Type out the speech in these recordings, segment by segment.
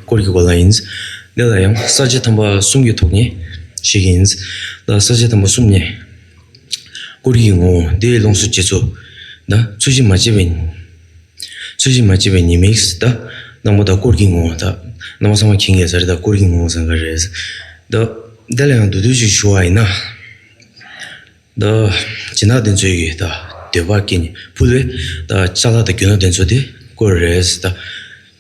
སྐོར་གྱི་བར་ལ་ཡིན། འདི་ལ་ཡང་གསར་བརྗེ་དམ་པ་གསུམ་གྱི་ཐོག་ནས་ཞིག་ཡིན་ལ། གསར་བརྗེ་དམ་པ་གསུམ་ནི། སྐོར་གྱི་ངོ་བོ་འདིའི་ལོངས་སུ་སྤྱད་ཚུལ་ན་ཚུལ་བཞིན་མ་སྤྱད་པའི་ཚུལ་བཞིན་མ་སྤྱད་པའི་ཉེས་དམིགས་ད་སྣང་བ་དང་སྐོར་གྱི་ངོ་བོ་ད་སྣང་བ་ཚང་མ་གྱིས་འགལ་ཟེར་ད་སྐོར་གྱི་ངོ་བོ་ཚང་འགལ་རེད། ད་འདི་ལ་ཡང་དུ་དུ་ཞིག་ཞུ་བ་ཡིན། ད་བྱིན་བདག་དེ་ཚོའི་ཡིད་ད་འདོད་པ་སྐྱེས་ནས་ཕུལ་བས་ད་ལྕགས་ལ་ད་གྱོན་ན་དེ་ཚོ་དེ་སྐོར་རེད།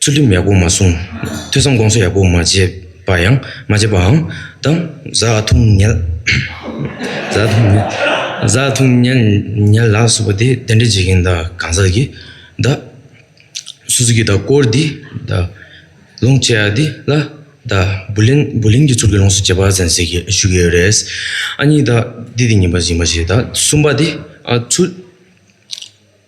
ཚུལ་ཁྲིམས་ཡག་པོ་མ་སྲུང། ཐོས་བསམ་དགོངས་གསོལ་ཡག་པོ་མ་བྱས་པ་ཡང། མ་བྱས་པའང། དང། བཟའ་འཐུང་ཉལ། བཟའ་འཐུང་ཉལ། བཟའ་འཐུང་ཉལ། ཉལ་ལག་བསུ་བ་དེ་གདན་འདྲེན་བྱེད་མཁན་དང་གང་ཟག་གིས། དང། སུ་སུ་གིས་དང་སྐོར་འདི། དང། ལོངས་སྤྱད་འདི་ལ། དང། བུ་ལན། བུ་ལན་གྱི་ཚུར་གྱི་ལོངས་སུ་སྤྱད་པ་ཙན་ཟེར་གྱིས་ཞུ་གི་རེད། ཨ་གཉིས་དང། འདི་དེ་གཉིས་པ་གཞན་པ་ཞིག་དང་གསུམ་པ་དེ། ཚུལ།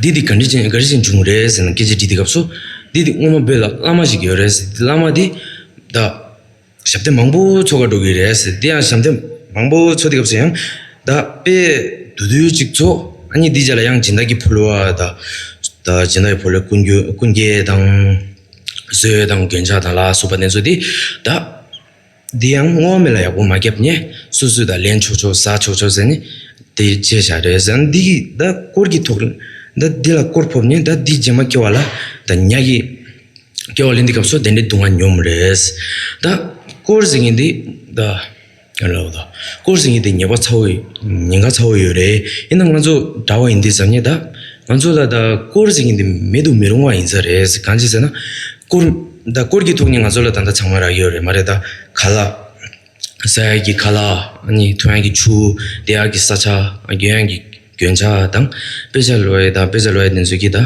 འདི་འདི་ག་འདྲི་ཅན་ག་རེ་ཞིག་འབྱུང་རེད་ཟེར་ནས་སྐད་ཆ་དྲིས་དེ་སྐབས་སུ། འདི་འདི་སྔོན་མ་བོད་ལ་བླ་མ་ཞིག་ཡོད་རེད་ཟེར་དེ་བླ་མ་དེ། ད། ཞབས་བརྟན་མང་པོ་འཚོ་ག་འགྲོ་གི་རེད་ཟེར་དེ་ཡང་ཞབས་བརྟན་མང་པོ་འཚོ་དེ་སྐབས་སུ་ཡང། ད་དཔེ། དུ་དུ་ཅིག་འཚོ་ཨ་མྱེས་འདི་ཅག་ལ་ཡང་སྦྱིན་བདག་གི་ཕོ་ལུའ་ད། ད་སྦྱིན་བདག་གི་ཕོ་ལུའི་ཀུན་རྒྱུ་ཀུན་རྒྱལ་དང། བཟོད་དང་རྒྱོན་ཆགས་དང་ལ་སོགས་པ་ནས་འཚོ་དེ། ད། འདི་ཡང་བསྔོ་བ་མེད་ལ་ཡག་པོ་མ་བརྒྱབ་ནས་སུས་སུས་དང་ལེན་ཆོག་ཆོག་ཟ་ཆོག་ཆོག་ཟེར་ནས་དེ་བྱས་བཞག་རེད་ཟེར་ན་འདི་གིས་ད་སྐོར་གྱི་ཐོག་ད་འདི་ལ་སྐོར་ཕོབ་ནས་ད་འདི་རྗེས་མ་སྐྱེ་བ་ལ་ད་ཉག་གི་སྐྱེ་བ་ལས་འདི་སྐབས་སུ་དེ་འདྲའི་སྡུག་བསྔལ་མྱོང་མི་རེད། ད་སྐོར་ཟེར་མཁན་འདི་ད་ཡང་ལབ་ལ། སྐོར་ཟེར་མཁན་འདི་ཉེས་པ་ཚ་བོ་ཉེན་ཁ་ཚ་བོ་ཡོད་རེད་ཡིན་ན་ང་ཚོ་འདྲ་བ་ཡིན་འདི་བཟང་ངན་ད་ང་ཚོ་ལ་ད་སྐོར་ཟེར་མཁན་འདི་མེད་དུ་མི་རུང་བ་ཡིན་ས་རེད་གང་ཅི་ཟེར་ན། བཀུར། ད་བཀུར་གྱི་ཐུགས་ནི་ང་ཚོ་ལ་ད་ལྟ་ཚང་མ་རག་ཡོད་རེད་མ་རེད་དཱ། ག་ལ། ས་ཡ་གི་ག་ལ། ནི་ཐུ་ཡང་གི་ཆུ། དེ་ཡག་གི་ས་ཆ། གྱོན་ཡང་གི་གྱོན་ཆ་དང། དཔེ་ཆ་ལོ་ཡི་དང་དཔེ་ཆ་ལོ་ཡི་དེ་ཚོ་གི་ད།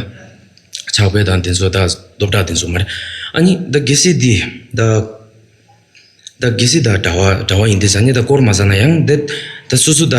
ཕྱག་དཔེ་དང་དེ་ཚོ་ད་སྟོབས་དྲག་དེ་ཚོ་མ་རེད། ཨ་ནི་ད་གེ་སེ་འདི་ད། ད་གེ་སེ་ད་གྲྭ་བ་གྲྭ་བ་ཡིན་དེ་ས་ནི་ད་བསྐོར་མ་ཟ་ན་ཡང་འདི། ད་སུ་སུ་ད།